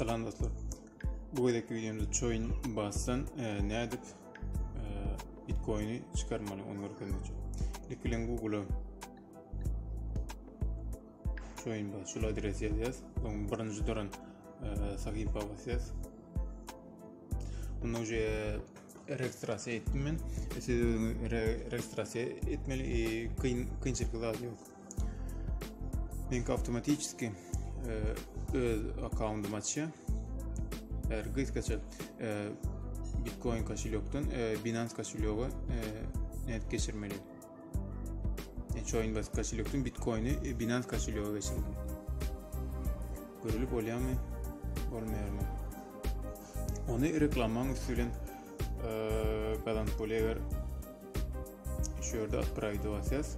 Salam dostlar. Bu gezekki videomda coin basdan e, nädip e, bitcoini çykarmaly onu görkezmekçi. İlk bilen Google'a coin bas şul adresi ýazýas. Oň birinji duran e, sahypa basýas. Onda uje registrasiýa etdim men. Siz özüňi registrasiýa etmeli, e, kyn kynçylyk zat ýok. Link avtomatiçki e, öz akkaundymy açýar. Eger gysgaça e, Bitcoin koşulýokdan e, Binance koşulýoga nädip geçirmeli? Coinbase koşulýokdan Bitcoini Binance koşulýoga geçirmeli. Görülip bolýarmy? Bolmaýarmy? Ony reklamaň üstü bilen gazanyp bolýar. Şu ýerde upgrade basýas.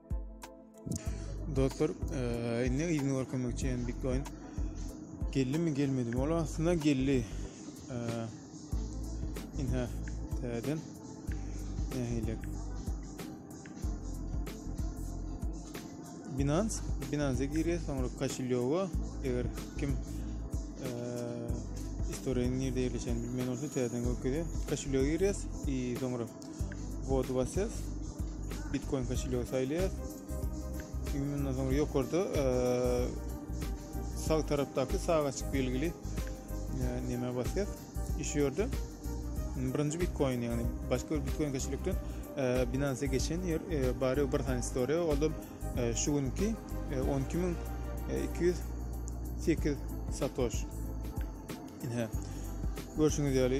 Dostlar, e, indi yzyny görkemek üçin Bitcoin geldi mi gelmedi mi? Ol aslynda geldi. E, indi täzeden nähili Binance, Binance-e girýär, soňra Kashilyoga, eger kim e, istoriýanyň nirde ýerleşen bilmeýän bolsa täzeden görkezýär. Kashilyoga girýär, soňra Wodwasses Bitcoin koşulýogy saýlaýas. Ýumdan soň ýokarda e, sag tarapdaky sagaçyk belgili e, näme basýas? Şu ýerde birinji Bitcoin ýagny başga bir Bitcoin koşulýokdan e, Binance geçen ýer bari bir sany story olda şu günki 12208 satoş. Ine. Görşüňiz ýaly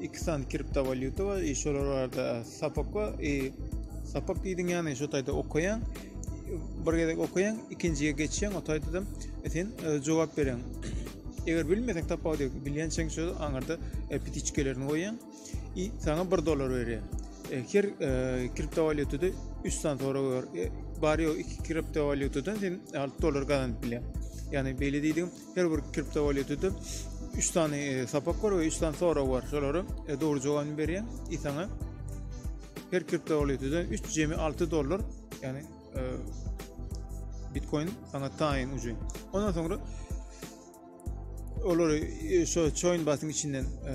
iki sany kriptowalýuta bar i şolar barada sapak bar i sapak diýdiň ýany şu taýda okaýaň bir gezek okaýaň ikinjiye geçýäň o taýda e, sen e, jogap berýäň eger bilmeseň tapawudy ýok bilýänçäň şu aňyrda e, pitiçkelerini goýýaň i saňa bir dollar berýär her kriptowalýutada üç sany sorag bar bar ýok iki kriptowalýutadan sen alty dollar gazanyp bilýäň ýani beýle diýdim Her bir kriptowalýutda 3 sany e, sapak bar we 3 sany sorag bar. Şolara e, dogry jogabyny berýän i saňa her kriptowalýutda 3 jemi 6 dollar, ýagny e, Bitcoin saňa taýyn uçin. Ondan soňra olary e, şo coin batyň içinden e,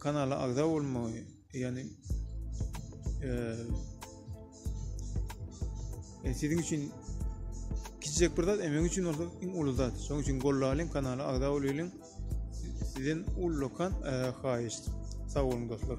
kanala agza bolmagy yani e, sizin için kiçicek bir zat emek için olsa en ulu zat şoň için gollayalım kanala agza bolayalım sizden ullakan e, haýyşt sag bolun dostlar